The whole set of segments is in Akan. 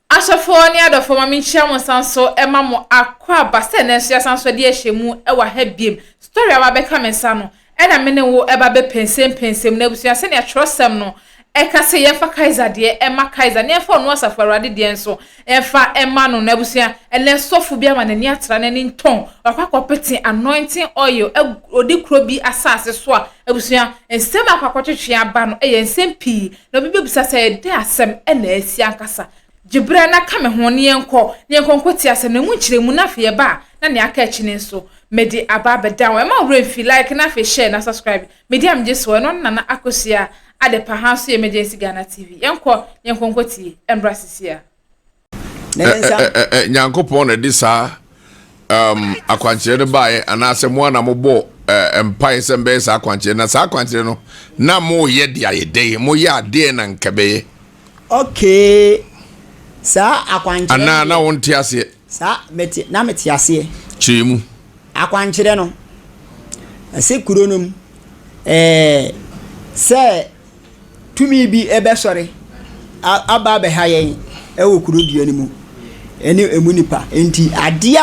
Asɔfoɔ ne adɔfoɔ, ma menkyia mo nsan so ma mo akɔ aba sɛ nanso yɛasan so de ahyɛ mu wɔ ha biem. Story a wabɛka me nsa no, ɛna me ne wo ɛba bɛpɛnsɛmpɛnsɛm na abusua sɛnea twerɛsɛm no ɛka sɛ yɛmfa Kaiser deɛ ɛma Kaiser na yɛmfa ɔno Asafo Awurade deɛ nso ɛmfa ɛma no na abusua ɛnɛ sɔfo bi ama n'ani atra n'ani ntɔn wakɔ akɔpete anointing oil odi kuro bi asase so a abusua nsɛm akɔ akɔtwetwe aba no ɛyɛ nsɛm pii Na obi bɛbisa sɛ, Dɛn asɛm na asi ankasa? Gye berɛ na ka me ho, na yɛnkɔ, na yɛnkɔ nkɔti asɛm no, ɛmu nkyerɛmu, na afei yɛba a, na nea aka akyi no nso, mede aba abɛda wo. Ɛma wo werɛ mfi, like na afei share na subscribe. Medi a megye soɔ, ɛno ne Nana Akosua Adepa, ha nso yɛ Emergency Ghana TV. Yɛnkɔ, na yɛnkɔ nkɔtie, ɛmbra seesei ara. nyankopɔn na ɛde saa um, akwankyerɛ no baeɛ anaasɛ mo ana mobɔ uh, mpaeɛ sɛ mbɛyɛ saa akwankyerɛ na saa akwankyerɛ no na moyɛ de ayɛ dɛn moyɛ adeɛ na nka bɛyɛ okay saa akwankyerɛ anaa na wonte aseɛ saa mete na mete aseɛ kyerɛ mu akwankyerɛ no ɛsɛ kuro no mu ɛɛ sɛ Tumi bi bɛsɔre aba abɛha yɛn wɔ kuro dua no mu ne ɛmu nnipa. Nti adeɛ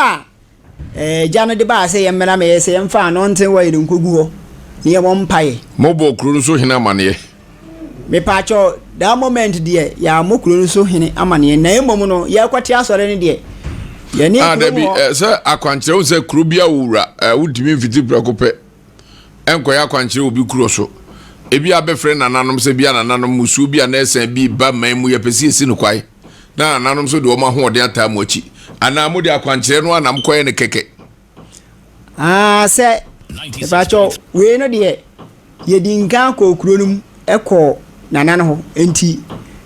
a agya no de baa sɛ yɛmmra mɛ yɛ sɛ yɛmfa ano nte wɔ yɛn nkɔgu hɔ ne yɛmmɔ mpaeɛ. Mobɔɔ kuro no so hene amaneɛ? Mepaakyɛw, that moment deɛ yɛammɔ kuro no so hene amaneɛ na mmom no yɛrekɔte asɔre no deɛ yɛne ah, kuro mu hɔ. Sɛ akwankyerɛ wo sɛ kuro bi a wowura wotumi mfiti prɛko pɛ nkɔyɛ akwankyerɛ wɔ obi kuro so. Ebia abɛfrɛ nananom sɛ bia nananom mmusuo bi anaa asiane bi reba man mu yɛpɛ sɛ yɛsi no kwan na nananom nso de wɔn ahoɔden ataa mo akyi. Anaa mode akwankyerɛ no ara na mokɔyɛ no kɛkɛ. Aa sɛ, mepakyɛ wo, wei no deɛ yɛdi nkan kɔɔ kuro no mu kɔɔ nana no hɔ nti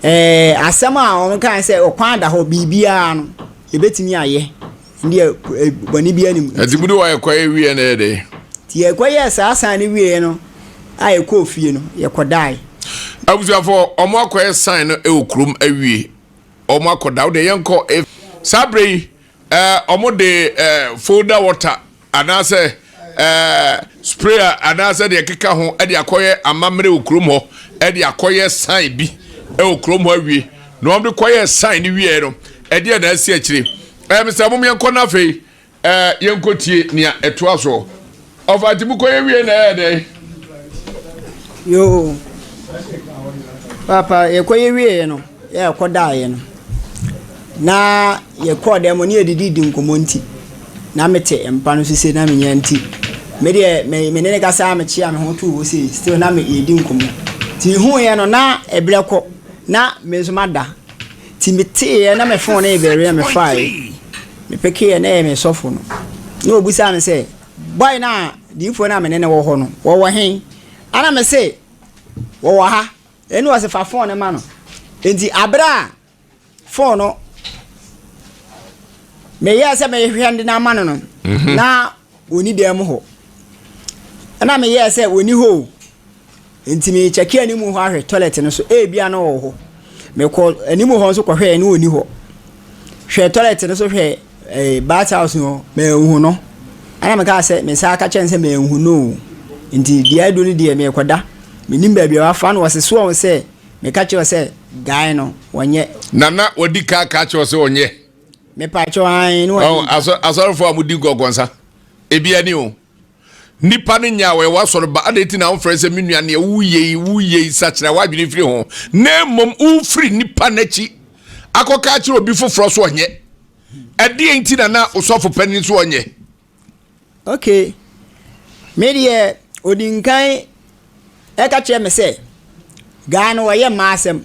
ɛɛ asɛm a wɔn kae sɛ ɔkwan da hɔ biribiara no yɛbɛtumi ayɛ bɔne bi anim. Ɛti bi do a ɛkɔ yɛ wieɛ na ɛyɛ dɛ. Ti ɛkɔ yɛ saa san ne wieɛ no a ɛkɔ ofie no yɛkɔ dae. Abusuafo ɔmo akɔ yɛ san no ɛwɔ kurom awie ɔmo akɔ da ɔde yɛn kɔ. Saa bere yi ɛɛ ɔmo de ɛɛ folder water anaasɛ spray anaasɛ deɛ ɛkeka ho de akɔyɛ amammerɛ wɔ kurom hɔ de akɔyɛ sign bi wɔ kurom hɔ awie na wɔn de kɔyɛ sign no wieɛ no ɛdeɛ na asi akyire ɛɛ mesɛ mo yɛn kɔ no afei ɛɛ yɛn kɔ tie nea ɛtoa soɔ ɔfa nti mo kɔ yɛ wie na ɛyɛ dɛ. yoo papa yɛkɔ yɛ wie no. Yɛkɔdaeɛ no, na yɛkɔɔ dan mu hɔ na yɛdididi nkɔmmɔ nti, na mete mpa no so sei na mennya nti, me deɛ me me ne no kasa ara mekyea me ho too hɔ sei, still na me yɛredi nkɔmmɔ. Nti mehuuiɛ no na ɛberɛ kɔ, na me nso mada. Nti meteeɛ na me phone no rebɛre na mefaae, mepekeeɛ na ɛyɛ me sɔfo no. Na ɔbisaa me sɛ, boy no a, diyifoɔ no a me ne no wɔ hɔ no, wɔwɔ he? Ɛna mese, wɔwɔ ha. Ɛnna ɔse fa fon no ma no. Nti abere a fon no meyɛɛ sɛ mehwehwɛ no de no ama no no mhm. na ɔni dan mu hɔ ɛna meyɛɛ sɛ ɔni hɔ o nti mekyɛke anim hɔ ahwɛ toilet no so ebia na ɔwɔ hɔ mekɔ anim hɔ nso kɔhwɛɛ na ɔni hɔ hwɛ toilet no so hwɛ Ɛɛ bath house no manhu no ɛna mekaa sɛ me nsa aka kyerɛ no sɛ manhu no o nti deɛ adu no deɛ merekɔda menim baabi a wafa no wɔse soɔ sɛ meka kyerɛ sɛ guy no wɔnyɛ nana wɔdi kaa kaa kyerɛ sɛ wɔnyɛ mepaakyɛ wɔn ne wɔn asɔrefo a wɔdi gɔgɔnsa ebi ani o Nnipa no nyaa wɔn wɔ asɔre ba. Adɛn nti na womfrɛ no sɛ me nua, nea woyɛ yi, woyɛ yi, sakyera w'adwene firi ho, na mmom wofiri nnipa no akyi akɔka akyerɛ obi foforɔ so ɔnyɛ? Ɛdeɛ nti na na osɔfo panin so ɔnyɛ? Okay, me deɛ ɔdi nkan Ɛka kyerɛ me sɛ, Guy no ɔyɛ mmaa asɛm.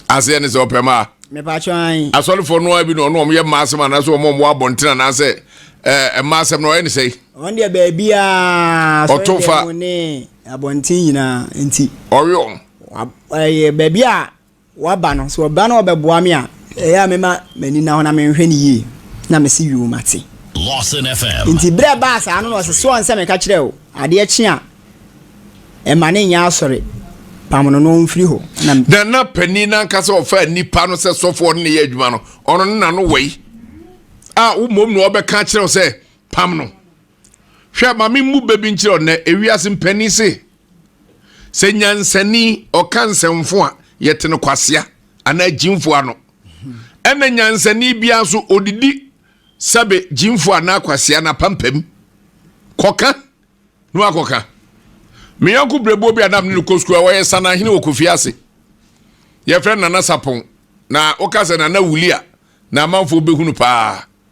Aseɛ ne sɛ ɔpɛ mmaa? Mepatwɔ an. Asɔrefoɔ no ara bi na ɔno wɔn yɛ mmaa asɛm anaasɛ wɔn wɔn wɔ abɔnten anaasɛ ɛɛ mmaa asɛm na ɔyɛ ne sɛe? Wɔn deɛ baabiara sɔre Ɔto fa. dɛm ne abɔnten nyinaa nti. Ɔwe wɔn. Wa ɛyɛ baabi a Waba no, sɛ ɔba na ɔbɛboa me a, ɛyɛ a mɛma m'ani nna hɔ na menhwɛ no yie, na mese, Yoo, mate. Enti berɛ a ɛbaa saa no na ɔse, Soɔ nsɛ meka kyerɛɛ wo, adeɛ kye a, mma no nyɛ asɔre, pam no na ɔmfiri hɔ. Na. Na na panin no ankasa a ɔfaa nnipa no sɛ sɔfoɔ no na ɛyɛ adwuma no, ɔno ne n'ano wɔ yi, a wo mmom na ɔbɛka akyerɛ wo sɛ, Pam no. Hwɛ, ma memmu bɛ bi nkyerɛ wo nnɛ, ewiase mpanin se, sɛ nyansani ɔka nsɛmfo a, yɛte no kwasea anaa gyimfo ano. Ɛna nyansani biara nso ɔdidi sɛbe gyimfo anaa kwasea no apampam. Kɔka na wakɔka. Me yɔnko berɛboɔ bi a na mene no kɔ sukuu a wɔyɛ sanahene wɔ Kofi ase. Yɛfrɛ Nana Sapon. Na woka sɛ Nana Wuli a, na amanfoɔ bɛhunu paa.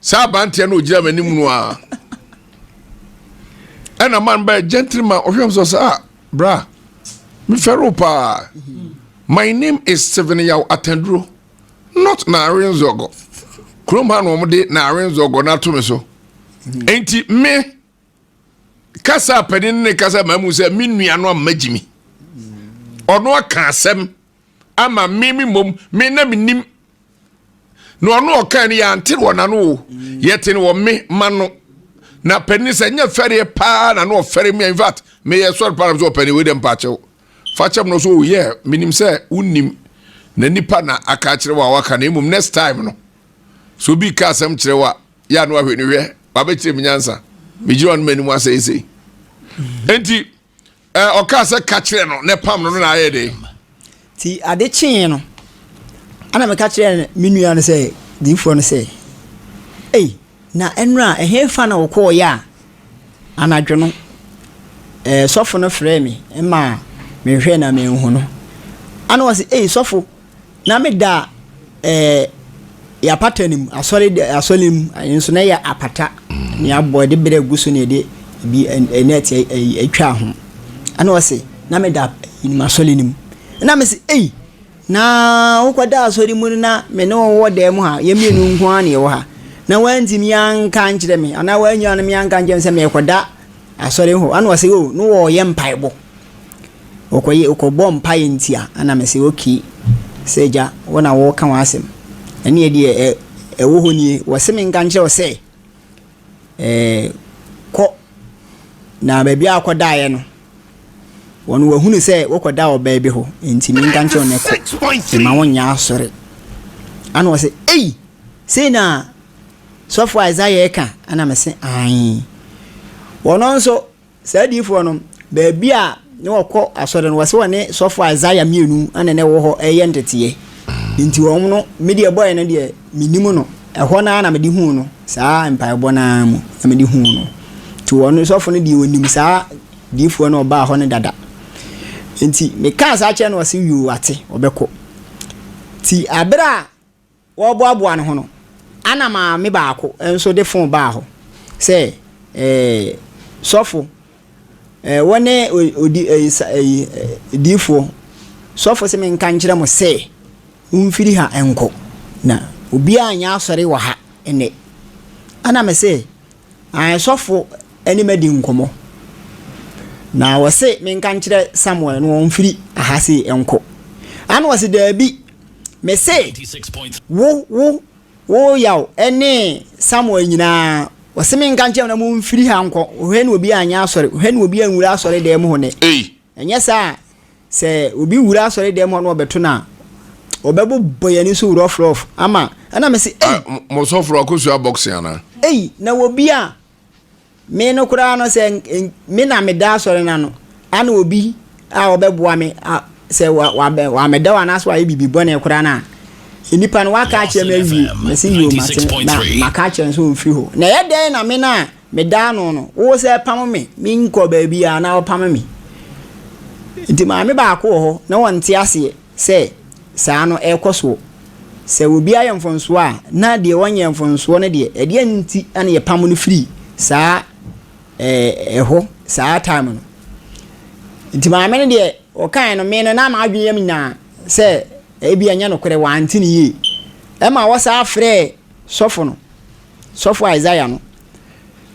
saa aberanteɛ no ɔgyina m'anim no a ɛna man bɛyɛ gentleman ɔhwɛ m sɛ sɛ a bra mefɛre wo paa my name is steven yaw atanduro not naare nzɔgɔ kurom ha na wɔde naare nzɔgɔ no ato me so enti me kasa apɛne ne kasa ma mu sɛ me nua no amma gyimi ɔno aka asɛm ama me me mmom me na menim na ɔno ɔkaa no yɛante no wɔ n'ano o yɛte no wɔ me ma no na panin sɛ nyɛ fɛreɛ paa na no ɔfɛre me in fact meyɛ sɔre paa na sɛ ɔpɛne wei dɛ mpaakyɛw fa kyɛm no so yɛ menim sɛ wonim na nipa na aka akyerɛ wo a waka na mmom next time no so bi ka asɛm kyerɛ wo a yɛ ano ahwɛ no hwɛ wabɛkyerɛ me nyansa megyina ɔno m'anim asɛesei enti Ɛɛ, ɔkaa sɛ ka kyerɛ no na ɛpam no no na ayɛ dɛn? Ti ade kyee no, ɛna meka kyerɛɛ me nua no sɛ, diifoɔ no sɛ, Ei, na ɛnora ɛhefa na wokɔɔeɛ a? Anadwo no, ɛɛ, sɔfo no frɛɛ me ma mehwɛɛ na manhu no. Ɛna ɔse, Ei, sɔfo, Na me da ɛɛ yɛ apata no mu asɔre de asɔre mu ɛyɛ nso na yɛ apata mm. ne abɔ ɛde bere gu so ne ɛde bi ɛnɛt ɛtwa ho ɛna ɔse na me da yinim asɔre no mu ɛna me se ei na wokɔ da asɔre mu no na me ne wɔwɔ dan mu ha yɛ mmienu nko ara na ɛwɔ ha na wantumi anka nkyerɛ me anaa wanyia no me anka nkyerɛ me sɛ mekɔda asɔre hɔ ana ɔsɛ o no wɔyɛ mpaebɔ Wɔkɔyɛ wɔkɔbɔɔ mpaeɛ nti a, ɛna mese okay sɛ Agya wo na woreka w'asɛm. Ɛnneɛ deɛ ɛ ɛwɔ hɔ nie, wɔse menka nkyerɛ wo sɛ ɛɛ kɔ na baabi a wokɔdaeɛ no, wɔn wɔahunu sɛ wokɔdaa ɔbaa bi hɔ nti menka nkyerɛ wo nɛ kɔ, mma wonyɛ asɔre. Ɛna wɔse ei! Sei na sɔfoɔ Isaiah reka? Ɛna mese aane. Wɔn nso. Saa adiyifoɔ no, baabi a ne wɔkɔ asɔre no, wɔse wɔne sɔfo Isaiah mmienu na na ɛwɔ hɔ reyɛ nteteɛ. Enti wɔn no, me deɛ ɛbɔeɛ no deɛ, mennim no. Ɛhɔ no ara na mede huu no, saa mpaebɔ no ara mu na mede huu no. Enti wɔn no, sɔfo no deɛ ɔnim saa diyifoɔ no a ɔbaa hɔ no dada. Enti mekaa saa kyerɛɛ no, ɔse, Yoo, wate, ɔbɛkɔ. Enti berɛ a. Wɔreboaboa no ho no, ana maame baako nso de fon baa hɔ sɛ, Ee, sɔfo, ee, wone odi, ee, sa, ee, diifoɔ. Sɔfo se menka nkyerɛ mo sɛ womfiri ha nkɔ, na obiara nyɛ asɔre wɔ ha nnɛ. Ana mese, Ae, sɔfo ne madi nkɔmmɔ, na wɔse menka nkyerɛ Samuel na ɔmfiri ha sei nkɔ. Ana ɔse, Daabi. Mese wo, wo, wo yaw ne Samuel nyinaa, wɔse me nka nkyerɛ na mo mfiri ha nkɔ, hwɛ na obi anyɛ asɔre, hwɛ na obi anwura asɔre dan mu hɔ nɛ. Ɛnyɛ saa a, sɛ obi wura asɔre dan mu hɔ na ɔbɛto no a, ɔbɛbobɔ yɛn ani so rɔf rɔf ama, ɛna mese ei. Mo sɔforo akosua boxing anaa? Ei, na obi a. Me no koraa no sɛ me na meda asɔre no ano a na obi a ɔbɛboa me a sɛ wamɛda wo anaasɛ wayɛ biribi bɔne koraa no a nipa no waka akyerɛ me awie mese yio mate na maka akyerɛ no sɛ ɔmfiri hɔ na ɛyɛ dɛn na me no a medaa no no wo sɛ pam me menkɔ baabi a na ɔpam me nti maame baako wɔ hɔ na ɔnte aseɛ sɛ saa no rekɔ soɔ. Sɛ obi ayɛ mfomsoɔ a, na deɛ ɔnyɛɛ mfomsoɔ no deɛ, ɛdeɛn nti na yɛpam no firi saa ɛhɔ saa time no? Nti maame no deɛ ɔkaeɛ no, me no na m'adwene yam nyinaa sɛ ebia ɛnyɛ nokorɛ, wante no yie. Ɛma ɔsan frɛɛ sɔfo no. Sɔfo Isaiah no,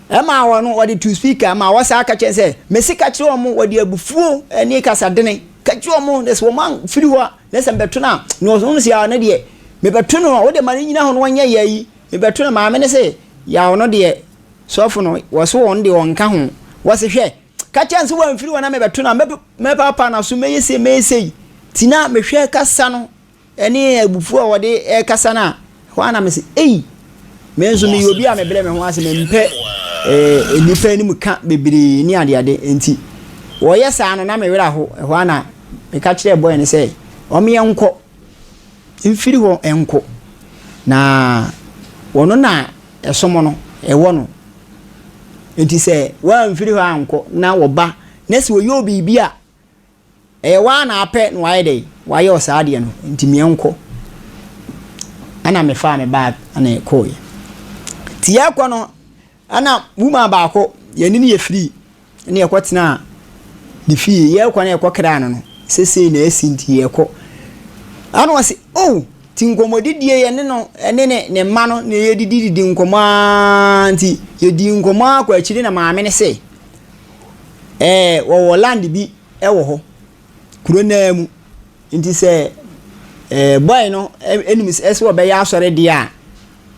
ɛma wɔ no wɔde tu speaker ma wɔsaa ka kyerɛ sɛ, mese ka kyerɛ wɔn wɔde abufuo ne kasa dene ka kyerɛ wɔn na sɛ wɔn amfiri hɔ a na sɛ mbɛto no a na wɔn se yaw no deɛ mebɛto no a wode ma no nyina hɔ no wɔnyɛ yɛ yi mebɛto no maame no se yaw no deɛ sɔfo no wɔse wɔn deɛ wɔnka ho wɔse hwɛ ka kyerɛ nso wɔamfiri hɔ na mebɛto no a mɛpapa no so mɛyɛ sei mɛyɛ sei ti na mehwɛ kasa no Ɛne abufuo a wɔde rekasa no a, ɛhɔ ara na mese, Ei! Me nso meyɛ obi a mebrɛ me ho ase, mempɛ eh, nnipa anim ka bebree ne adeade. Enti wɔyɛ saa no, na me werɛ aho. Ɛhɔ ara na meka kyerɛɛ bɔe no sɛ, Wɔn yɛnkɔ, mfiri hɔ nkɔ, na wɔn na ɛsom no, ɛwɔ no. Enti sɛ wɔamfiri hɔ ankɔ na wɔba, na sɛ wɔyɛ wo biribi a, Ɛyɛ woaa na apɛ na wayɛ dɛn wayɛ wo saa adeɛ no nti meɛ nkɔ. Ɛna me faa me bag ɛna yɛkɔeɛ. Nti yɛɛkɔ no ɛna woman baako yɛne no yɛ free ɛna yɛkɔ tenaa ne fie yɛɛkɔ na yɛkɔ kraa no no sesei na asi nti yɛɛkɔ. Ɛna ɔse oh nti nkɔmmɔdidie yɛne no ɛne ne ne mma no na yɛdidididi nkɔmmɔ aa nti yɛdii nkɔmmɔ aa kɔ akyire na maame no se. Ɛɛ wɔwɔ land bi wɔ hɔ, kuro no ara mu. Nti sɛ ɛɛ bɔe no nim sɛ ɛsɛ sɛ ɔbɛyɛ asɔredeɛ a,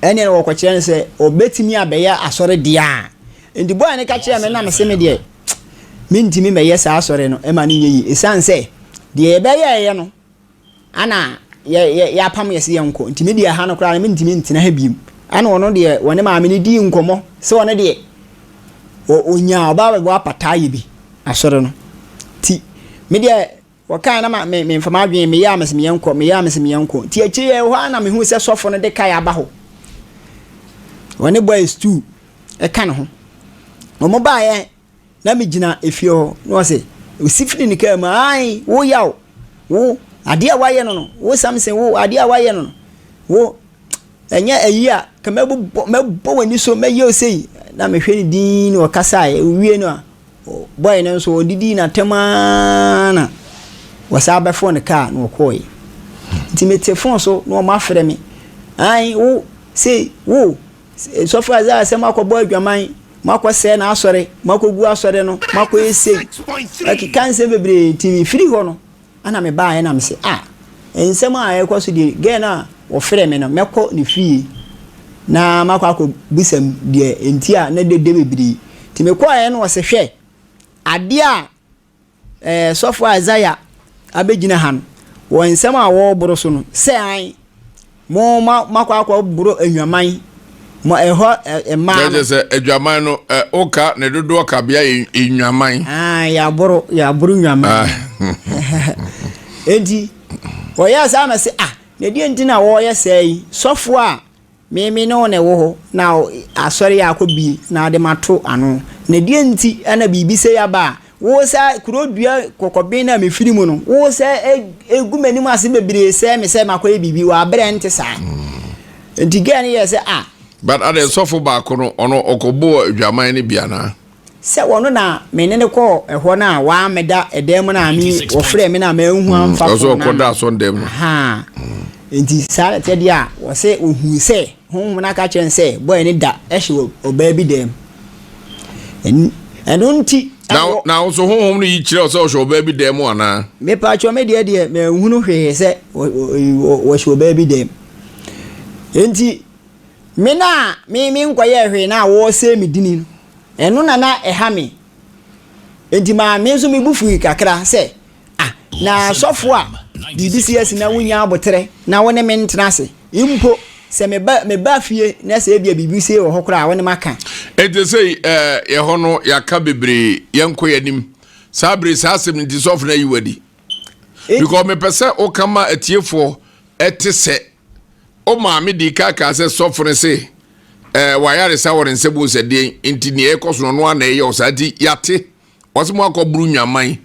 ɛnneɛ wɔkɔkyerɛ no sɛ ɔbɛtumi abɛyɛ asɔredeɛ a. Nti bɔe no ka kyerɛɛ me na mese me deɛ, mentumi mmɛyɛ saa asɔre no, ɛma no nyɛ yie. Ɛsiane sɛ deɛ yɛbɛyɛeɛ no, Ana yɛ yɛ yɛapam yɛ se yɛnkɔ nti me deɛ ha no koraa no mentumi ntena ha biom ana ɔno deɛ wɔne maame no dii nkɔmmɔ sɛ ɔno deɛ ɔ ɔnyaa ɔbaa bɛboa pata ayɛ bi asɔre no nti me deɛ wɔkae na ma me memfa m'adwene meyɛ a mese meyɛnkɔ meyɛ a mese meyɛnkɔ nti akyire yɛ hɔ a na mehu sɛ sɔfo no de kae aba hɔ wɔne bɔɛ stuu ɛka ne ho wɔn baeɛ na megyina efie hɔ na ɔse, ɔsi firi ne kaa mu, ae, wo Yaw, wo, adeɛ a woayɛ no no, wo Samson, wo, adeɛ a woayɛ no no, wo, ɛnyɛ ayi a, ka mɛbobɔ, mɛbɔ w'ani so, mɛyɛ wo sei, na mehwɛ no dinn na ɔkasae, ɔwie no a, bɔe no nso ɔdidii n'atɛm ara na wɔsaa bɛfɔɔ ne kaa na ɔkɔɔe. Nti mete fon so na wɔafrɛ me, ae, wo, sei, wo, Sɔfo Isaiah sɛ moakɔbɔ adwaman, moakɔsɛe n'asɔre, moakɔgu asɔre no, moakɔyɛ sei. Ɔkeka nsɛm bebree nti mefiri hɔ no na mebaeɛ na mese ah nsɛm a ɛrekɔ so deɛ girl no a ɔfrɛɛ me no mɛkɔ ne fie na makɔ akɔbisam deɛ nti a na dede bebree nti mekɔeɛ no ɔse hwɛ adeɛ a Ɛɛ, sɔfo Isaiah abegyina ha no, wɔ nsɛm a wɔreboro so no, sɛ ae, mo ma makɔ akɔboro adwaman, mo ɛhɔ mmaa no. Kyɛ sɛ adwaman no, ɛ, woka ne dodoɔ kabea yɛ nnwaman. Ah, yɛaboro, yɛaboro nnwaman. Ah. Enti, wɔyɛɛ saa na se, ah, na deɛ nti na wɔreyɛ sɛɛ yi, sɔfo a Me me ne wo na ɛwɔ hɔ, na asɔre yi akɔ bie na ade mato ano. Na deɛ nti na biribi sɛ yaba a, wo sɛ kuro dua kɔkɔben na me firi mu no, wo sɛ egu m'anim ase bebree sɛ me sɛ makɔyɛ biribi wɔ abere a ɛnte saa. Nti gɛɛ no yɛɛ sɛ ah. But adɛn sɔfo baako no ɔno ɔkɔbɔɔ adwaman no bi anaa? Sɛ ɔno na me ne no kɔɔ ɛhɔ no a, wammɛda ɛdan mu no a me wɔfrɛɛ me no a manhu amfa Ɔsɛ fon no ɔkɔda ano. asɔ dan mu. Ahaa. Enti saa na ɛteɛ deɛ a, ɔsɛ ɔhuu sɛ Honhom no aka kyerɛ no sɛ bɔe no da hyɛ ɔ- ɔbaa bi dan mu. Ɛn- Ɛno nti Na ɛwɔ na wo nso honhom no yi kyerɛ wo sɛ ɔhyɛ ɔbaa bi dan mu anaa? Mepatwɔ me deɛ deɛ manhunu hwee sɛ wɔ- wɔ- wɔ- wɔhyɛ ɔbaa bi dan mu. Enti Me na me menkɔyɛɛ hwee na wɔresɛe me dini no, ɛno na na ɛha me. Enti ma me nso me bo fui kakra sɛ, Ah, na sɔfo a biribi si asi na wunnya aboterɛ na wo ne me ntena ase, mpo sɛ meba meba fie na sɛ ebia biribi sie wɔ hɔ koraa a, wo ne maka. Enti sei eh, yɛ hɔ no yɛaka bebree, yɛnkɔ yɛn anim. Saa bere saa asɛm nti sɔfo no ayi wo adi. Because mepɛ sɛ woka ma atiefoɔ ɛte sɛ. O maame dii kan kaa sɛ sɔfo no se, ɛɛ wayaresa wɔ ne nsa mu sɛ deɛ nti nea ɛkɔ so no ɔno ana ɛyɛ ɔsaa nti yate wɔsɛ mo akɔ buru nwaman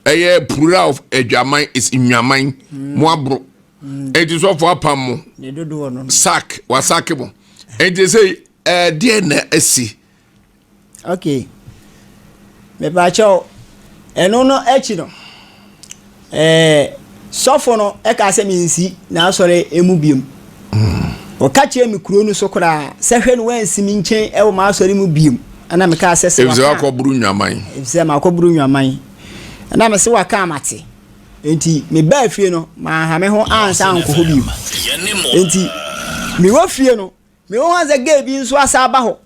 ɛyɛ plural of adwaman is nwaman mm. mo aboro mm. eti sɔfo apam mo sak wasake mo eti sɛ ɛɛ deɛ na asi. Okay, mepaakyɛw, ɛno no akyi no, ɛɛ sɔfo no ɛka sɛ mensi n'asɔre emu biom. Ɔka hmm. kyerɛ me kuro no so koraa sɛ hwɛ no wansi me nkyɛn ɛwɔ m'asɔre mu biom. Ɛna meka sɛ sɛ waka. Efisɛ wakɔburu nwaman. Efisɛ makɔburu nwaman. Ɛna mese waka amate. Nti mebaa fie no, manha me ho ansa ankɔ hɔ biom. Nti mewɔ fie no. Mehu ara sɛ girl bi nso asan aba hɔ.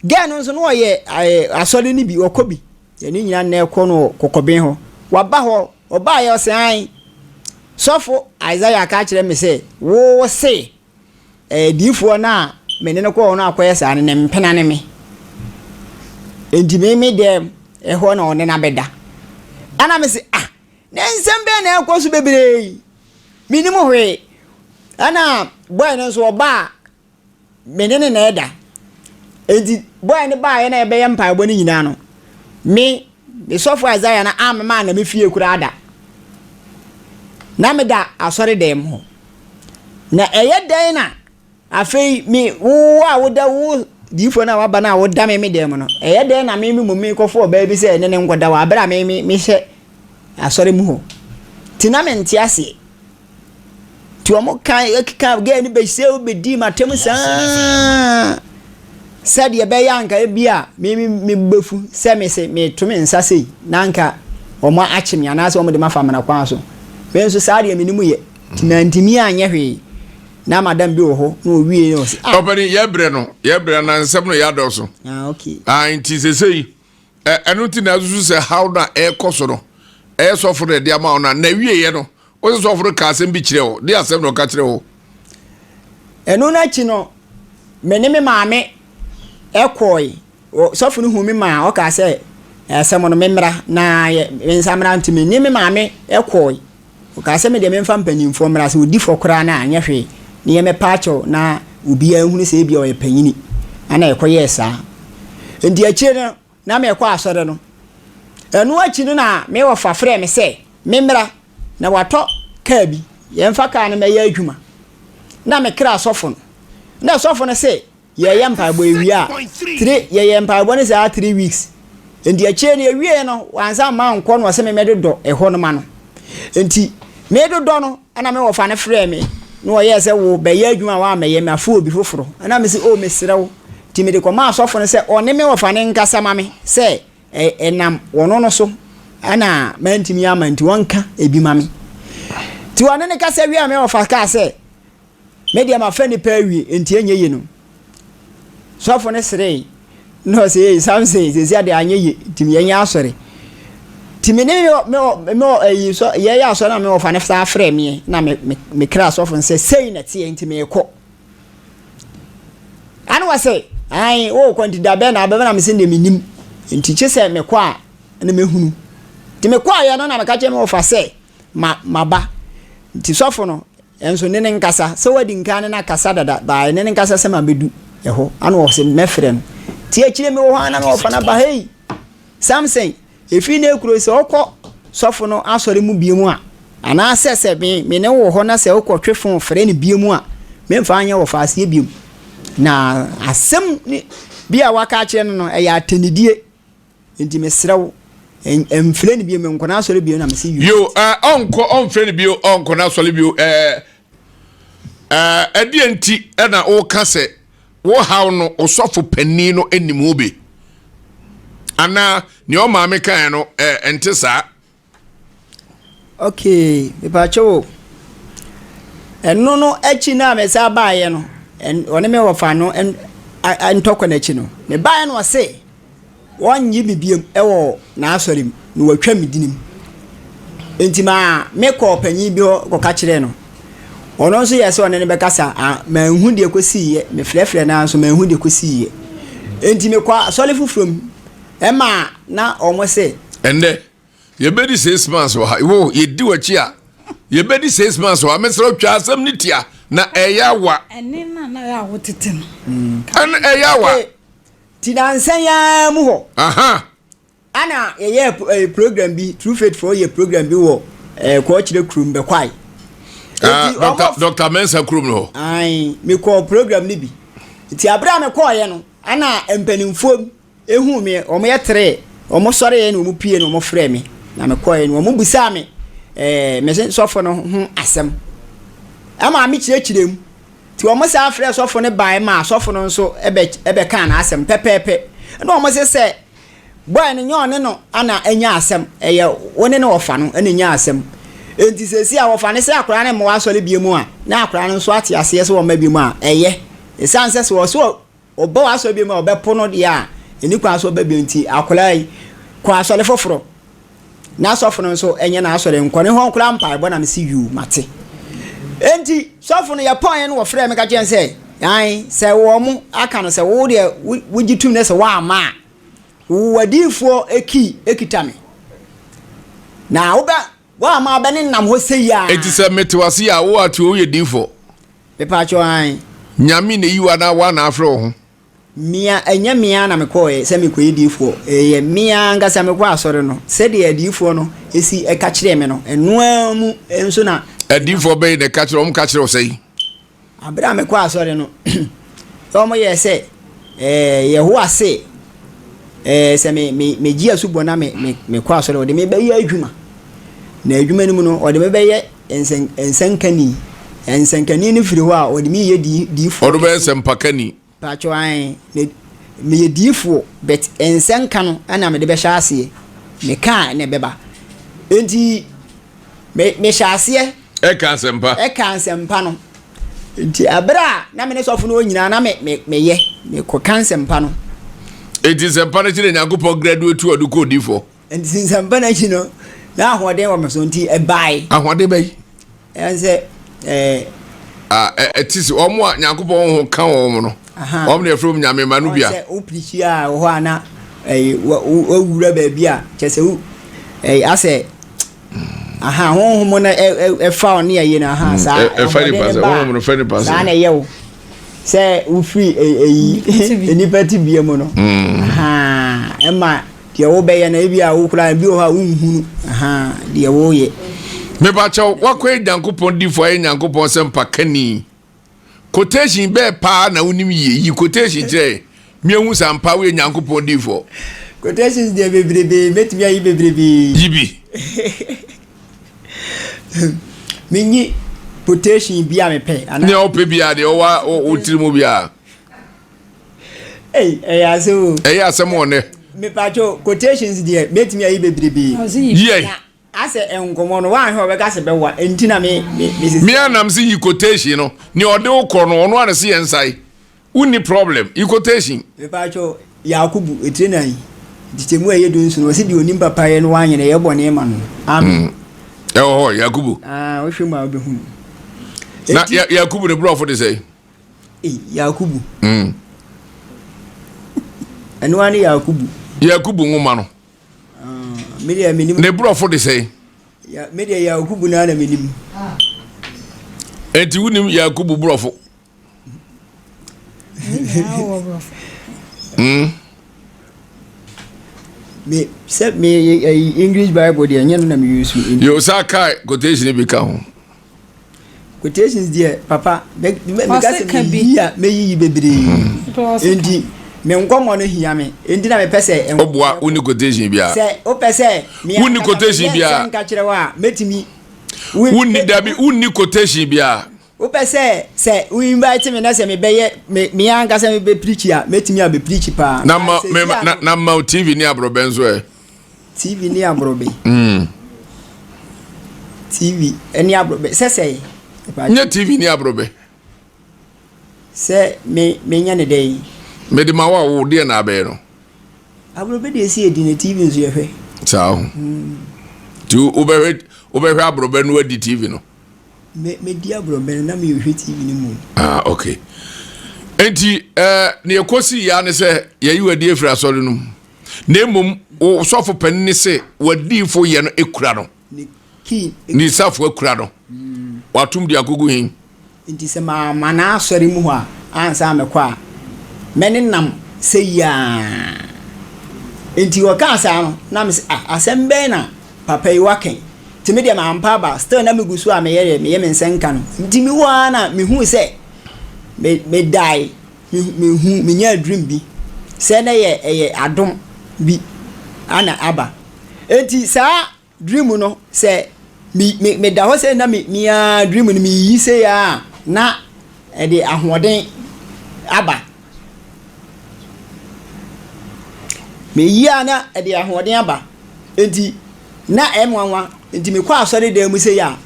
Girl no nso na ɔyɛ ɛɛ asɔre no bi, ɔkɔ bi. Yɛn ne nyinaa nnɛ kɔ no wɔ Kɔkɔben hɔ. Waba hɔ, ɔbaeɛ ɔse ae, sɔfo Isaiah ka kyerɛ me sɛ wo se ɛɛ diifoɔ no a me ne no kɔɔ hɔ no akɔyɛ saa no, ne mpena ne me. Enti me me dɛm hɔ na ɔne no abɛda. Ɛna me se ah! Nnɛ nsɛm bɛn na ɛrekɔ so bebree yi? Minnim hwee. Ɛna bɔe no nso ɔba a, me ne no na ɛda. Enti bɔe no baeɛ na yɛbɛyɛ mpaebɔ no nyinaa no, me, me sɔfo Isaiah no ammema anna me fie koraa da. Na meda asɔredan mu hɔ. Na ɛyɛ dɛn na Afei me, wo a woda wo diyifoɔ no a waba no a woda me me dan mu no, ɛyɛ dɛn na me me mmom merekɔfo ɔbaa bi sɛ ɛne no nkɔda wɔ aberɛ a me me mehyɛ asɔre mu hɔ? Nti na mente aseɛ. Nti wɔn ka ɛkeka gɛɛ no bɛhyɛw bɛdii m'atam saa sɛdeɛ ɛbɛyɛ anka ebi a me me me bɛfu sɛ me se meto me nsa sei na anka wɔn akye me anaasɛ wɔn de ma fa amena kwan so. Me nso saa deɛ me ne mu yɛ nti mantumi anyɛ hwee. Na madam bi wɔ hɔ na owie yɛ ɔsi. Ah. Ɔpɛni yɛ brɛ no yɛ brɛ na nsɛm no yɛ adɔso. Ah okay. Ah nti sese yi ɛno ti na asusu sɛ how na ɛkɔ so no ɛyɛ sɔfo na ɛde ama wo na na wie yɛ no wɔsɛ sɔfo no ka asɛm bi kyerɛ wo de asɛm na ɔka kyerɛ wo. Ɛno n'akyi no me ne me maame ɛkɔɔe Ɔsɔfo no huu me maa ɔkaa sɛ, Asɛm no, memmra, na me nsa mmra. Nti mene me maame kɔɔe. Ɔkaa sɛ, Medeɛ memfa mpanyimfoɔ mmra, sɛ ɔdi fɔ koraa no a, nyɛ hwee, ne yɛmmɛpa akyɛ wo na obiara nhunu sɛ ebia ɔyɛ panyini. Ɛna yɛkɔyɛɛ saa. Nti akyire no, na merekɔ asɔre no. Ɛno akyi no na me wɔfa frɛɛ me sɛ memmra, na watɔ kaa bi, yɛmfa kaa no mmɛyɛ adwuma. Na mekra sɔfo no, na sɔfo no se, Yɛyɛ mpaebɔ yɛwie a three yɛyɛ mpaebɔ no saa three weeks nti akyire no yɛwie no wansa mma nkɔ no ɔsɛ me mɛdodɔ ɛhɔ no ma no nti medodɔ no ɛna me wɔfa no frɛɛ me na ɔyɛɛ sɛ wo bɛyɛ adwuma a woammɛyɛ me afo obi foforɔ ɛna me sɛ o oh, mesrɛ wo nti mede kɔma asɔfo no sɛ ɔne me wɔfa no nkasa ma me sɛ ɛnam wɔno no so ɛna mantumi ama nti wɔnka ebi ma me nti ɔne ne kasa wie a me wɔfa kaa sɛ Me deɛ mafa nnipa awie nti ɛnyɛ ye no sɔfo no seree na ɔsɛ ee Samson sɛsi adeɛ anyɛ ye nti yɛnyɛ asɔre nti me ne me ayi sɔ yɛyɛ asɔre na me ɔfa no saa frɛ meɛ na me me me kra sɔfo no sɛ sei na teɛ nti meekɔ ɛne wɔ sɛ ae wokɔ nti da bɛn na abɛbɛ na mese deɛ menim nti kye sɛ mekɔ a ne mehunu nti mekɔɔyɛ no na meka kyerɛ me ɔfa sɛ ma maba nti sɔfo no Nso ne ne nkasa sɛ wadi nkan ne no akasa dada by ne ne nkasa sɛ ma bɛdu ɛhɔ ana wɔ se mɛfrɛ no nti akyire me wɔ hɔ ana me wɔfa no aba hei Samson ɛfiri ne kuro yi sɛ wo kɔ sɔfo no asɔre mu biom a anaa sɛ sɛ me me ne wo wɔ hɔ na sɛ wo kɔ twe fon frɛ no biom a me mfa nyɛ wɔfa aseɛ biom na asɛm ne bi a waka akyerɛ no no ɛyɛ atɛnidie Nti mesrɛ wo, mfrɛ no bio, menkɔ n'asɔre bio na mese you. Yo, eh, ɔnkɔ, ɔmfrɛ no bio, ɔnkɔ n'asɔre bio. Eh, eh, ɛdeɛ nti na woka sɛ wohaw no ɔsɔfo panin no anim ho bi? Anaa nea ɔmaame kaeɛ no, eh, ɛnte saa? Okay, mepaakyɛw o. Ɛno no akyi no a mesan baeɛ no, ɔne me wɔfa no ntɔkwa no akyi no, mebaeɛ na ɔse wɔnnye me biom wɔ n'asɔre mu na wɔatwa me din mu. Nti maa mekɔɔ panyin bi hɔ kɔka kyerɛɛ no. Ɔno nso yɛɛ sɛ ɔne no bɛkasa, manhu deɛ kɔsiiɛ, mefrɛfrɛ no ara nso manhu deɛ kɔsiiɛ. Nti mekɔɔ asɔre foforɔ mu, ɛmaa na wɔn se. Ɛnnɛ, yɛbɛdi six months wɔ ha wo yɛdi w'akyi a yɛbɛdi six months wɔ ha mesrɛ wo twa asɛm no tia na ɛyɛ awa ɛne na na yɛ a wotete no ɛne ɛyɛ awa ti nansa yi ara mu hɔ ana yɛyɛ program bi true faith for yɛ program bi wɔ kɔɔkyerɛ kurom bɛkwae dr mensa kurom no hɔ mekɔɔ program no bi nti aberɛ a mekɔɔyɛ no ana mpanimfoɔ huu me, wɔyɛteree, wɔsɔreeɛ na wɔpue no, wɔfrɛɛ me, na mekɔeɛ no wɔbisaa me me sɔfo no ho asɛm ma mekyerɛkyerɛɛ mu. Nti wɔsan frɛɛ sɔfo no baeɛ maa sɔfo no nso bɛkaa n'asɛm pɛpɛɛpɛ. Ɛna wɔse sɛ, Bɔe no, nyɛ ɔne no na anya asɛm, ɛyɛ wo ne no wɔfa no na ɛnyaa asɛm. Enti seesei a wɔfa no sɛ akwadaa no remmɔ w'asɔre bio mu a, na akwadaa no nso ate aseɛ sɛ wɔmma bio mu a, ɛyɛ. Ɛsiane sɛ sɛ ɔse Ɔba w'asɔre bio mu a, ɔbɛpo no deɛ a, ɛnni kwan sɛ ɔba bio nti, akwadaa yi, kɔ asɔre foforɔ. Na sɔfo no nso, ɛnyɛ n'asɔre, nkɔ ne hɔ nkora mpaebɔ na mese yuu, mate. Enti, sɔfo no yɛkɔɔeɛ no wɔfrɛɛ me ka kyerɛ sɛ, ae, sɛ wɔn aka no sɛ wo deɛ wogye tum na sɛ woamma a, wo wadiyifoɔ key kita me. Na wobɛ Woama bɛ ne nam hɔ sei aa. Enti sɛ me te w'ase a wo ate oye difoɔ. Me paa kyɛw hann. Nyame na eyi wo anaa woa na afrɛ wo ho. Me a ɛnyɛ me ara na me kɔɔɛ sɛ me kɔ yɛ difoɔ ɛyɛ me ara ankasa me kɔ asɔre no sɛdeɛ adiyifoɔ no esi ɛka kyerɛɛ me no ɛno ara mu nso na. Adiyifoɔ bɛn na ɛka kyerɛ wɔn ka kyerɛ wo sɛn. Bere a mekɔɔ asɔre no, na wɔyɛɛ sɛ Yehowa se sɛ megye asubɔ na mekɔ asɔre a, wɔde me bɛyɛ adwuma. Na adwuma no mu no, wɔde me bɛyɛ nsɛnkani. Nsɛnkani no firi hɔ a, wɔde me reyɛ diifoɔ kɛse. Wɔde me bɛyɛ nsɛmpakani. Pakyɛw ae me meyɛ diifoɔ but nsɛnka no na mede bɛhyɛ aseɛ mekaa na ɛbɛba nti me mehyɛ aseɛ ɛka asɛmpa ɛka nsɛmpa no nti ɛberɛ a na me ne sɔfo no nyinaa na me me meyɛ mekɔka nsɛmpa no. Enti nsɛmpa no kyerɛ Nyankopɔn graduate a ɔde kɔ odiifoɔ. Nsɛmpa no akyi no, na ahoɔden wɔ me so nti ɛbae. Ahoɔden bɛyi. Ɛyɛ sɛ ɛɛ. ɛte sɛ wɔn a nyankopɔn ho ka wɔn no wɔn na yɛfrɛ wɔn nyame ma no bia. sɛ wopirikyi a wɔ hɔ a na wawura baabi a kyɛ sɛ wo asɛ aha honhom no ɛfa wo ne ɛyi no aha mm, saa ɛfa nipa sɛ honhom no fɛ nipa sɛ saa na ɛyɛ wo sɛ wofiri ɛyi nnipa tibea mu no mm. ɛma Deɛ wobɛyɛ no ebi a wo koraa ebi wɔ hɔ a wonhunu ahaa deɛ woyɛ. Mepakyɛw wakɔyɛ Nyankopɔn difo ayɛ Nyankopɔn sɛmpa kani. Quotation bɛɛ paa na wonim yie yi quotation kyerɛ meahu sɛ ampa woyɛ Nyankopɔn difo. Quotations deɛ bebrebe mɛtumi ayi bebrebe. Yi bi. Menyi quotation bi a mepɛ anaa. Nea wopɛ biara deɛ ɔwa wotiri mu biara. Ei, ɛyɛ asɛm o. Ɛyɛ asɛm o nnɛ. Mepatwo quotations deɛ mɛtumi ayi bebrebe. Yɛ. Asɛ nkɔmɔ no wahwɛ ɔbɛka sɛ bɛwa nti na me me me sisi. Me anam se yi quotation no ne ɔde wo kɔ no ɔno a na se yɛn nsae. Wonni problem. Yi quotation. Mepatwo Yakubu etire nan ntetemu a ɛyɛ du nson ɔse deɛ onim papayɛ no wanyɛ na ɛyɛ bɔne ma no. Amen. Mm. Ɛwɔ hɔ Yakubu. Ah, wohwɛ mu a wobɛhunu. Na Yakubu ne brɔfo de sɛ. Ei, Yakubu. Mm. Ɛno ara ne Yakubu. Yakubu nwoma no. Ah, me deɛ menim. Ne borɔfo de sɛn? Ya, me deɛ Yakubu no ara na menim. Enti wonim Yakubu borɔfo? Mm. Me, sɛ me eh, English Bible deɛ ɛnyɛ no na me use. Yo, saa kaa quotation bi ka ho. Quotations deɛ papa meka sɛ meyi a mɛyiyi bebree enti me nkɔmmɔ no hia me enti na mepɛ sɛ ɔboa woni quotation biara sɛ wopɛ sɛ wonni quotation biara nka kyerɛ wo a mɛtumi wonni dabi wonni quotation biara wopɛ sɛ sɛ wo invite me na sɛ mebɛyɛ me ankasa mebɛpirikyi a mɛtumi a mɛpirikyi paa na ma tv ne aborɔbɛn so ɛ TV ne aborobe. Mm. TV ne aborobe sɛ sɛe. Nye TV ne aborobe. Sɛ me menya ne dɛn. Mede ma wa wo deɛ na abɛyɛ no. Aborobe deɛ si edi na TV nso yɛhwɛ. Saa ho. Mm. Ti wobɛhwɛ wobɛhwɛ aborobe no adi TV no. Me me di aborobe no na me hwɛ TV no mu. Ah okay. Enti ɛɛ eh, ne ɛkɔsi ya ne sɛ yɛyi wadi efiri asɔre no mu. na mmom wo sɔfo panin ne sɛ w'adiifo yɛ no ekura no ne isafo akura no watom de agogo hin nti sɛ maama no asɔre mu hɔ a ansa mɛkɔ a mɛne nam sɛ yiaa nti ɔkaa saa no na mesɛ ah, asɛm bɛn na papa yi wakɛn nti me deɛ mampa aba still na megu so a meyɛ deɛ meyɛ me nsɛnka no nti mewɔ a na mehu sɛ medae Mehu, menyaa dream bi sɛ na yɛ ɛyɛ adom bi ana aba. Enti saa dream no sɛ me me meda hɔ sɛ na me mea dream no meyiyi sɛ a na ɛde ahoɔden aba. Meyi a na ɛde ahoɔden aba. Enti na ɛnwanwa. Enti mekɔ asɔre dan mu sɛ a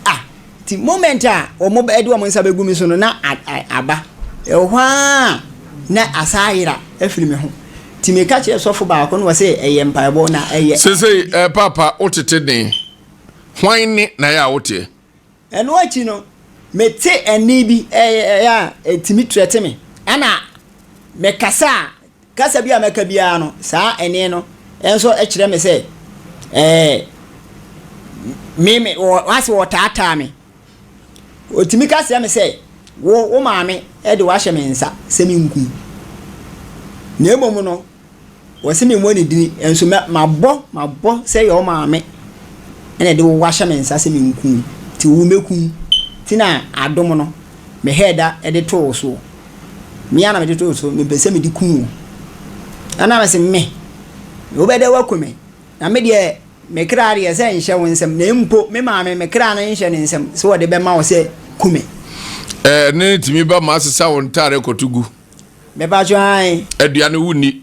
ah. Nti moment a wɔn bɛ de wɔn nsa bɛgu me so no na a a aba. Ɛwɔ hɔ ara na asan ayera afiri me ho. Nti meka kyerɛ sɔfo baako na ɔse ɛyɛ mpaebɔ na ɛyɛ. Sesei eh, Paapa wotete den. Hwan ne na ɛyɛ a woteɛ? Ɛno akyi no, mete ɛnne bi ɛyɛ a ɛtumi trɛte me. Ɛna mekasa a Kasa bi a mɛka biara no, saa ɛnne no nso kyerɛ me sɛ, ɛɛ, me, me, wɔ, ase wɔretaataa me. Ɔtumi ka kyerɛ me sɛ, Wo, wo maame de wo ahyɛ me nsa sɛ menkum. Na mmom no, wɔse memmɔ ne dini, nso mɛ, mabɔ, mabɔ sɛ ɛyɛ wo maame na ɛde wo ahyɛ me nsa sɛ menkum wo, nti wo mɛkum. Nti na adom no, mehɛɛ da de too wo soɔ. Me ara na mede too so, mempɛ sɛ mede ku wo. Ɛnna me se, Me? Wobɛdɛ woaku me? Na me deɛ, me kra deɛ sɛ nhyɛ wo nsam, na mpo me maame, me kra no nhyɛ ne nsam sɛ wɔde bɛma wo sɛ ku me. Ɛnne no tumi ba ma asesa wo ntare kɔto gu. Mepatwo ae. Aduane wonni.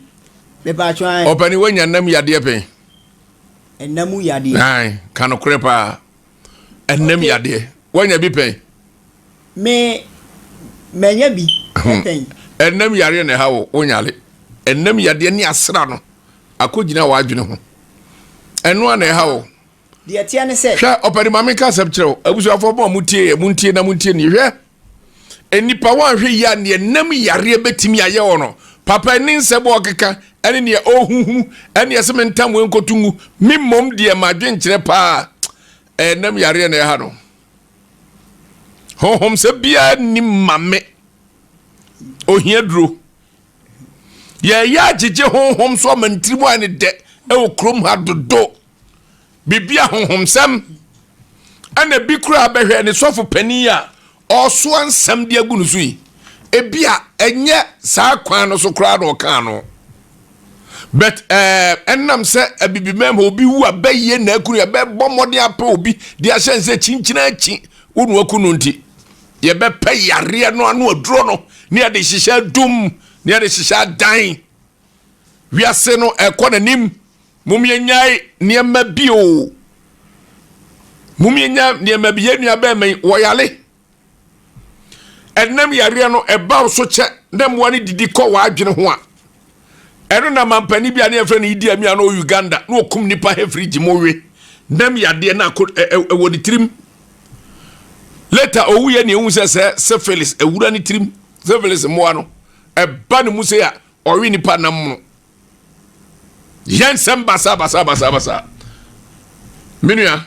Mepatwo ae. Ɔpani, woanya nam yadeɛ pɛn? Ɛnam yadeɛ. Ae, ka nokorɛ paa. ɛnam yadeɛ wanya bi pɛn me manya bi pɛn ɛnam yareɛ na ɛha wo wonyale ɛnam yadeɛ ne asra no akɔgyina w'adwene ho ɛno a na ɛha wo deɛ teɛ ne sɛ hwɛ ɔpɛde ma meka asɛm kyerɛ wo abusuafoɔ bɔ a motie yɛ montie na montie nie hwɛ Nnipa wɔanhwɛ yie a neɛ nam yareɛ bɛtumi ayɛ wɔ no papa ne nsɛm ɔkeka ɛne neɛ ɔhuhunu ɛne ɛsɛ me ntam wei nkɔto ngu me mmom deɛ ma adwenkyerɛ paa ɛyɛ nam yareɛ na ɛha no honhom sɛ biara nni ma me ohia duro yɛyɛ agyegye honhom so ama ntirimu ayɛ ne dɛ ɛwɔ kurom ha dodo Biribi ahonhomsɛm, ɛna ebi koraa bɛhwɛ ne sɔfo panin a ɔresoa nsɛm de agu no so yi. Ebi a ɛnyɛ saa kwan no so koraa na ɔkaa no. But ɛɛ ɛnam sɛ abibimam hɔ obi wu a bɛyɛ na akunu yɛbɛbɔ mmɔden apɛ obi de ahyɛ nsɛ kyinkyina akyi wo na wakunu nti. Yɛbɛpɛ yareɛ no ano aduro no ne yɛde hyehyɛ dum ne yɛde hyehyɛ adan. Wiase no ɛkɔ n'anim Mom yɛnyae nneɛma bi o. Mom yɛnya nneɛma bi. Yɛn nua bɛrima yi, wɔyare. Ɛnam yareɛ no, ɛba wo so kyɛ na mmoa no didi kɔ w'adwene ho a. Ɛno na mampanin bi a ne yɛfrɛ no Idi Amin a na ɔwɔ Uganda na ɔkum nnipa hefirigye mu we. Nam yadeɛ no akɔ ɛwɔ ne tirim. Later ɔwuiɛ na ɛhu sɛ sɛ syphilis awura ne tirim. Syphilis mmoa no, ɛba ne mu sɛ a ɔwe nnipa nam no. yɛ nsɛm basabasabasabasa me nua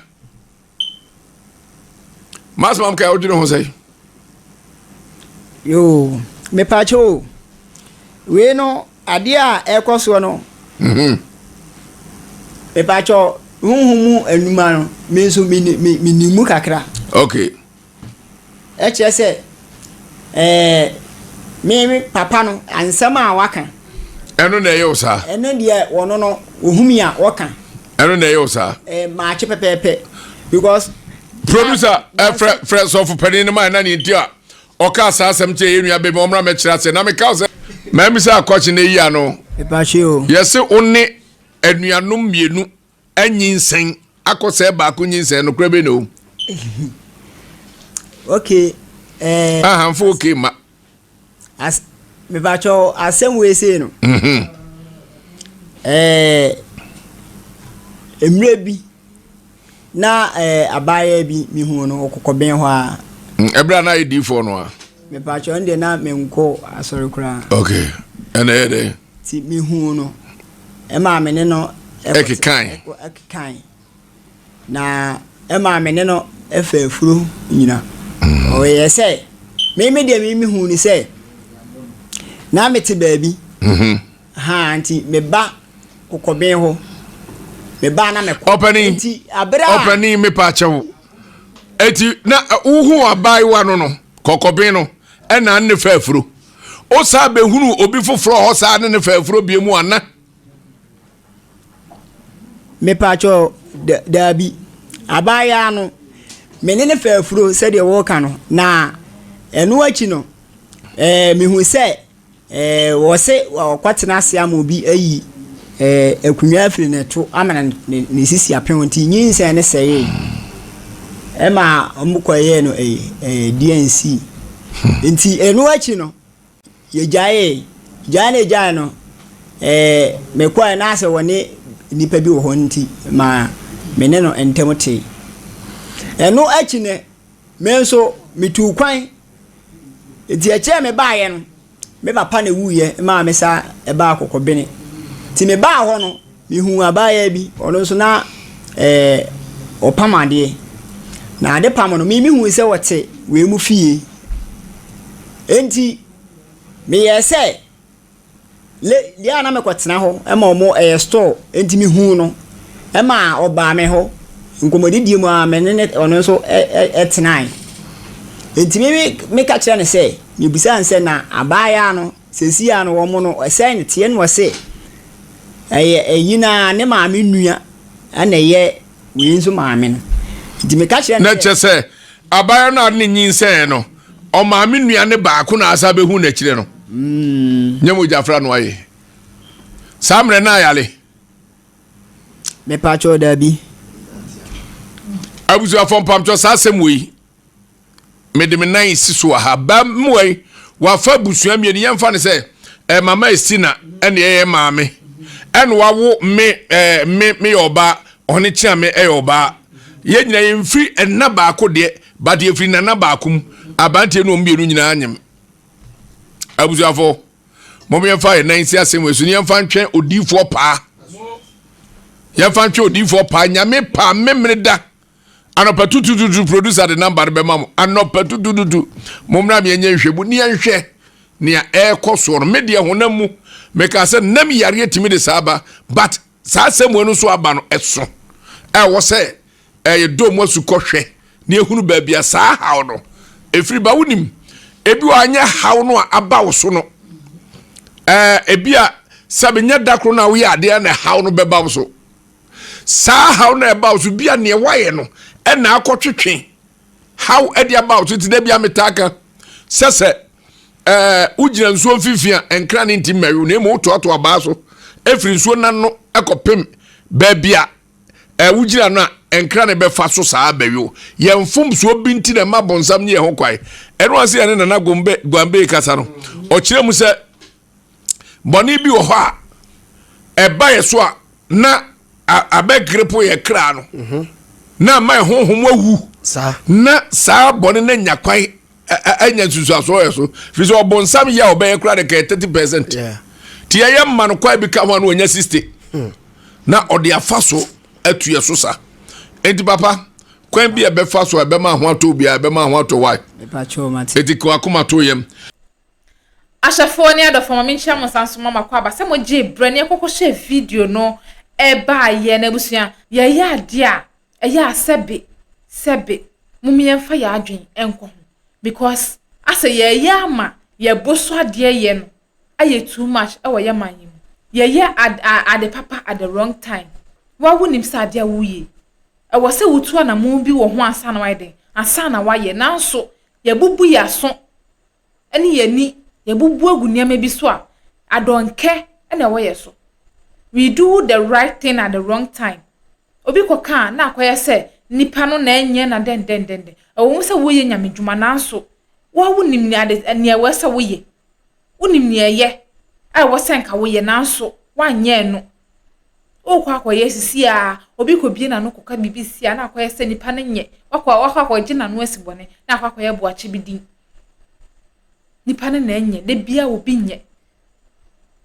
masomam ka wodwene ho sɛ yo mepaakyɛ o wei no adeɛ a ɛkɔ soɔ no mhm. mepaakyɛ honhom mu anuma no me nso menim mu kakra okay Ɛkyerɛ sɛ ɛɛ me me papa no nsɛm a waka. Ɛno na ɛyɛ wo saa. Ɛno deɛ wɔn no ohun mi a wɔka. Ɛno na ɛyɛ wo saa. Ɛɛ maakye pɛpɛɛpɛ because. Producer ɛfrɛ eh, frɛ sɔfo panyin no maa ɛna ne nti a ɔka saa asɛm kyerɛ yɛn nua bɛmi ɔmra mɛkyerɛ ase na meka sɛ mɛmi sɛ akɔkye na eyi ano. Ɛpahyɛ o. Yɛse wo ne anuanom mmienu Anyinsɛn akɔsɛe baako nyinsɛn no kora bɛ na o. okay ɛɛ. Eh, ahanfo okay ma. as mepatwɛ asɛm wei sei no. Mhm. ɛɛ eh, mmerɛ bi na ɛɛ eh, abaayewa bi mehu no ɔkɔkɔ bɛn hɔ a. ɛberɛ mm, a na ayɛ diifoɔ no a. mepatwɛ ɔno deɛ na menkɔ asɔre koraa. okay ɛna ɛyɛ dɛ. ti mehu no. Ɛmaa me ne no kekae. Kekae. Na ɛmaa me ne no faa afuro nyina. Mm. Ɔyɛ sɛ me me deɛ me mehu ne sɛ na mete baabi. Mm-hmm. Ha nti meba kokɔben hɔ. Meba na mekɔ. Ɔpɛni. Nti abere a. Ɔpɛni mepa akyɛw. Eti na wohu abaayewa no no kɔkɔben no ɛna ne faa afuro. Wosan bɛhunu obi foforɔ hɔ saa ne ne fɛɛforɔ bie mu ana? Mepaakyɛ daabi. Abaayaa no, me ne ne fɛɛfuro sɛdeɛ wɔka no, na ɛno akyi no, eh, mehu sɛ eh, wɔse wɔkɔtena ase ama obi ayi Akonyaa firi ne to amena ne ne sisi apem nti nyinsɛn no sɛee. Ɛma wɔkɔyɛɛ no ɛyi ɛɛ DNC. Hmm. Nti ɛno akyi no yɛgyaee gyae na gyae no ɛɛ mekɔɛ na asɛ wɔne nnipa bi wɔ hɔ nti ma me ne no ntɛm tee. Ɛno akyi no me nso metuu kwan nti ɛkyɛɛ me baeɛ no. Me papa na ewuiɛ maa me sa baa Kɔkɔbene. Nti me baa hɔ no, me huu abaayaa bi, ɔno nso na ɛɛ ɔpam adeɛ. Na ade pam no, me me hui sɛ ɔte wei mu fie. Enti me yɛɛ sɛ le deɛ a na me kɔ tena hɔ ma ɔmo ɛyɛ store. Enti me huu no ɛma ɔbaa me hɔ. Nkɔmɔdidie mu a me ne ne ɔno nso ɛ ɛ ɛtenae. Enti me me ka kyerɛɛ no sɛ. Yebisaa no sɛ, Na abaayaa no, seesei ara no wɔn no, sɛn na ɛteɛ? Ɛnna ɔse, Ɛyɛ ɛyi no ara, ne maame nua na ɛyɛ wei nso maame no. Nti meka kyerɛɛ no sɛ. Na kyerɛ sɛ, abaayaa no a ɔde no nyinsɛnee no, ɔmaame nua no baako na asan abɛhu no akyire no. Nyɛ mogyafra no ayɛ. Saa mmerɛ no ayare. Mepakyɛw, daabi. Abusuafoɔ, mpamkyɛw saa asɛm wei. Mede me nan si so wɔ ha. Ba mmoa yi, wafa abusua mmienu. Yɛmfa no sɛ eh, mama esi na ɛne ɛyɛ maame. Ɛna wawo me eh, me meyɛ ɔbaa, ɔne kyea me ɛyɛ ɔbaa. Yɛn nyinaa yɛmfiri ɛna baako deɛ, but yɛfiri nana baako mu. Aberanteɛ ne wɔn mmienu nyinaa nyem. Abusuafo, mom yɛmfa yɛn nan si asɛm wɔ so ne yɛmfa ntwɛn odiifoɔ paa. Yɛmfa ntwɛn odiifoɔ paa. Nyame paa memene da. Anɔpa tutututu producer de number no bɛma mo anɔpa tutututu mo mmra mi ɛnyɛ nhwɛ mu ni ɛnhwɛ nea ɛrekɔ soɔ no me deɛ honam mu meka sɛ nam yareɛ tumi de saa ba but saa sɛ mu ɛno nso aba no ɛso ɛwɔ sɛ ɛyɛ dɔm mu asukɔ hwɛ ne ehunu baabi a saa haw no efiri ba wonim ebi wɔ anyɛ haw no a aba wo so no ɛɛ ebi a sɛbi nyɛ dakoro na woyɛ adeɛ na haw no bɛba wo so. Saa haw no a ɛba wo so bia neɛ woayɛ no ɛna akɔtwetwe haw ɛde aba wo so nti da bia metaa ka sɛ sɛ ɛɛ wogyina nsuo mfimfini a nkran ne nti mmɛwe na emu wotoato abaa so ɛfiri nsuo nan no ɛkɔpem baabi a ɛɛ wogyina no a nkran ne bɛfa so saa bɛwe wo yɛn mfomsoɔ bi nti na ɛma bɔnsam ne yɛn ho kwae ɛno ase yɛn ne nana gombe guambe kasa no ɔkyerɛ mu sɛ bɔne bi wɔ hɔ a ɛba yɛ so a na abɛgrepo yɛ kra no mhm. na ama ɛhonhom awu na saa bɔne no anya kwan anya nsusuasoɔ yɛ so firi sɛ ɔbonsam yɛ a ɔbɛyɛ kora de kɛyɛ 30 percent nti ɛyɛ mma no kwae bi ka ho a na ɔnya 60 hmm. na ɔde afa so atuɛ so sa enti papa kwan bi a ɛbɛfa so a ɛbɛma ho atɔ obiara ɛbɛma ho atɔ wae ɛti kawakoma to yam Ahyɛfoɔ ne adɔfoɔ, ma menkyia mo nsa nsoma mo akwaaba sɛ mogyee berɛ ne yɛkɔ kɔhyɛɛ video no baeɛ no abusua, yɛyɛ adeɛ a ɛyɛ a sɛbe sɛbe mom yɛmfa yɛn adwene nkɔ ho because asɛ yɛyɛ ama yɛbo so adeɛ yɛ no ayɛ too much wɔ yɛ man yi mu, yɛyɛ ade papa at the wrong time, woa wonim sɛ adeɛ a woyɛ yi ɛwɔ sɛ wotu anamɔn bi wɔ ho ansa na wayɛ dɛn ansa na wayɛ nanso yɛbubu yɛn aso. ne yɛn ani yɛabubu agu nneɛma bi so a, adɔnkɛ na ɛwɔ yɛn so. We do the right thing at the wrong time. Obi kɔka a, na akɔyɛ sɛ nipa no na ɛnyɛ na dɛndɛndɛndɛn. Ɛwɔ mu sɛ woyɛ nyame dwuma nanso woa wonim nea ade nea ɛwɔ sɛ woyɛ. Wonim nea ɛyɛ a ɛwɔ sɛ nka woyɛ nanso woanyɛ no Wokɔ akɔyɛ sisi a, obi kɔbie n'ano kɔka biribi si a na akɔyɛ sɛ nipa no nyɛ. Wakɔ wakɔ akɔgye n'ano asi bɔne na akɔ akɔyɛ boakye bi din. Nipa no na ɛnyɛ, da biara obi nyɛ.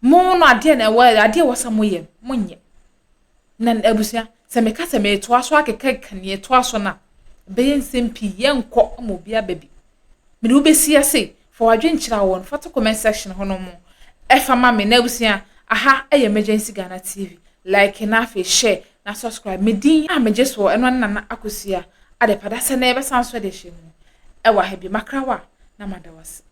Mo no adeɛ na ɛwɔ adeɛ ɛwɔ sɛ moyɛ no, monyɛ. Na abusua, sɛ meka sɛ metoa so akekeka nea ɛtoa so no a, ɛbɛyɛ nsɛm pii, yɛnkɔ ma obiara ba bi. Mede wo bɛsi ase, Fa w'adwen kyerɛ wɔn, fa to comment section hɔ nom fa ma me na abusua aha yɛ Emergency Ghana TV, like na afei share na subscribe, me din a megye soɔ ɛno ne Nana Akosua Adepada sɛ nnɛ yɛbɛsan nso de ahyɛ mu ɛwɔ aha bio, makra wo a na mada wo ase.